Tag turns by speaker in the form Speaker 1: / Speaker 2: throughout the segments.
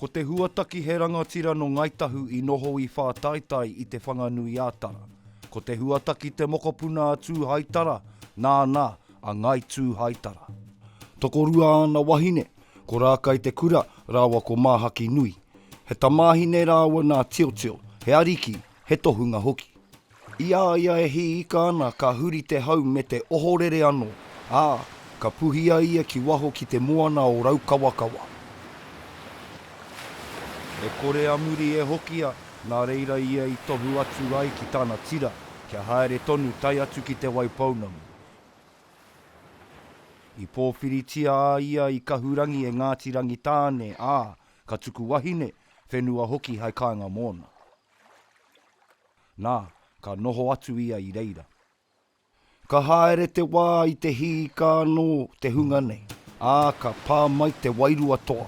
Speaker 1: Ko Te Huataki he rangatira no Ngai Tahu i noho i Whātaitai i Te Whanganui-a-Tara. Ko Te Huataki te mokopuna a Tūhaitara, nāna a Ngai Tūhaitara. Tokorua āna wahine, ko Rākai Te Kura rāua ko Māhaki Nui. He tamāhine rāua nā Tiotio, he ariki, he tohunga hoki. I a ia e hī ika ana ka huri te hau me te ohorere anō, ā, ka puhia ia ki waho ki te moana o Raukawakawa. E kore a muri e hokia, nā reira ia i tohu atu ai ki tana tira, kia haere tonu tae atu ki Te Waipounamu. I pōwhiritia a ia i Kahurangi e Ngāti Rangitāne, ā, ka tuku wahine, whenua hoki hai kāinga mōna. Nā, ka noho atu ia i reira. Ka haere te wā i te hīka anō te hunga nei, ā, ka pā mai te wairua toa.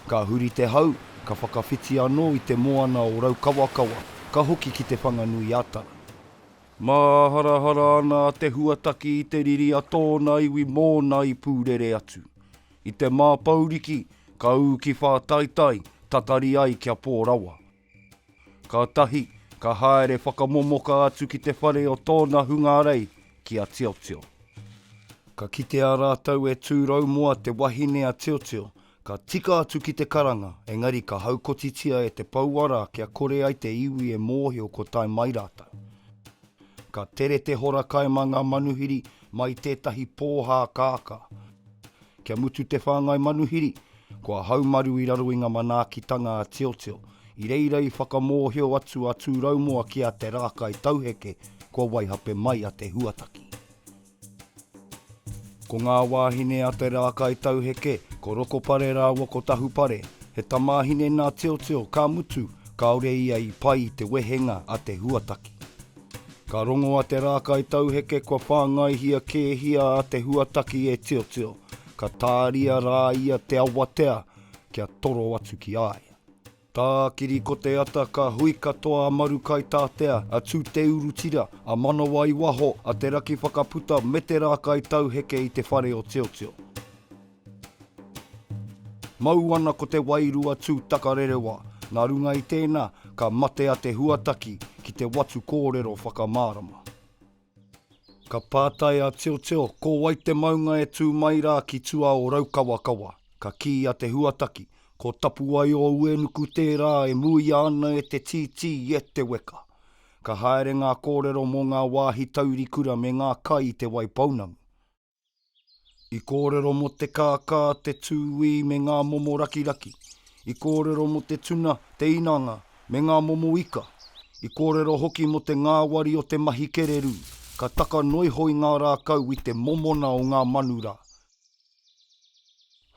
Speaker 1: Ka huri te hau, ka whakawhiti anō i te moana o Raukawakawa, ka hoki ki Te Whanganui-a-Tara. Māharahara ana a Te Huataki i te riri a tōna iwi mōna i pūrere atu. I te māpouriki, ka ū ki Whātaitai, tatari ai kia pō rawa. Kātahi ka haere whakamomoka atu ki te whare o tōna hungarei ki a Tiotio. Ka kitea rātou e Tūraumoa te wahine a Tiotio, ka tika atu ki te karanga, engari ka haukotitia e te pouara kia kore ai te iwi e mōhio ko tae mai rātou. Ka tere te hora kai mā ngā manuhiri mai tētahi pōhā kākā. Kia mutu te whāngai manuhiri, kua haumaru i raro i ngā manaakitanga a Tiotio. I reira i whakamōhio atu a Tūraumoa ki a Te Rākai Tauheke kua waihape mai a Te Huataki. Ko ngā wāhine a Te Rākai Tauheke, ko Rokopare rāua ko Tahupare, he tamāhine nā Tiotio, ka mutu, kāore ia i pai i te wehenga a Te Huataki. Ka rongoa te rākai tauheke kua whāngaihia kēhia a Te Huataki e Tiotio, ka tāria rā ia te awatea kia toro atu ki a ia. Tākiri ko te ata ka hui katoa a Marukaitatea, a Tūteurutira, a Manawaiwaho, a Te Rakiwhakaputa me te rākai tauheke i te whare o Tiotio. Mau ana ko te wairua tū takarerewa, nā runga i tēnā, ka mate a Te Huataki ki te watu kōrero whakamārama. Ka pātai a Teoteo, Ko wai te maunga e tū mai rā ki tua o Raukawakawa? Ka kī a Te Huataki, Ko Tapuaioa-Uenuku tērā e muia ana e te tītī i Eteweka. Ka haere ngā kōrero mō ngā wāhi taurikura me ngā kai i Te Waipounamu. I kōrero mō te kākā, te tūī me ngā momo rakiraki. I kōrero mō te tuna, te inanga, me ngā momo ika. I kōrero hoki mō te ngāwari o te mahi kererū. Ka taka noiho i ngā rākau i te momona o ngā manu rā.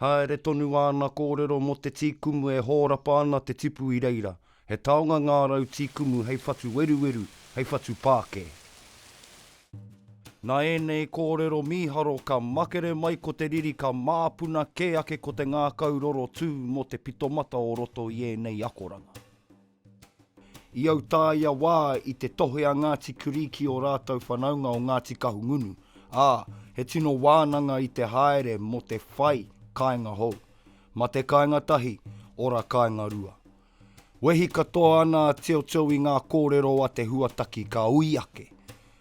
Speaker 1: Haere tonu āna kōrero mō te tī kumu e hōrapa ana te tipu i reira. He taonga ngā rau tī kumu hei whatu weruweru, hei whatu pākē. Nā ēnei kōrero mīharo ka makere mai ko te riri ka māpuna kē ake ko te ngākau roro tū mō te pitomata o roto i ēnei akoranga. I autaia wā i te tohe a Ngāti Kurī ki ō rātou whanaunga o Ngāti Kahungunu, ā, he tino wānanga i te haere mō te whai kāinga hou. Mate kāinga tahi, ora kāinga rua. Wehi katoa ana a Teoteo i ngā kōrero a Te Huataki ka ui ake,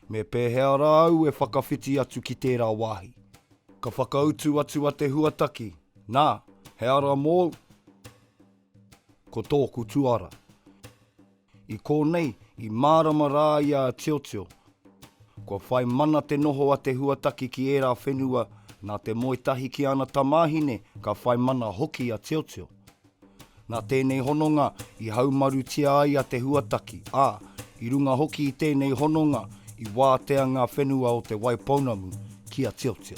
Speaker 1: Me pēhea rā au e whakawhiti atu ki tērā wāhi? Ka whakautu atu a Te Huataki, Nā, he ara mōu? Ko tōku tuara. I kōnei, i mārama rā ia a Tiotio. Kua whai mana te noho a Te Huataki ki ērā whenua, nā te moe tahi ki ana tamāhine ka whai mana hoki a Tiotio. Nā tēnei hononga i haumarutia ai a Te Huataki, ā, i runga hoki i tēnei hononga i wātea ngā whenua o Te Waipounamu ki a Tiotio.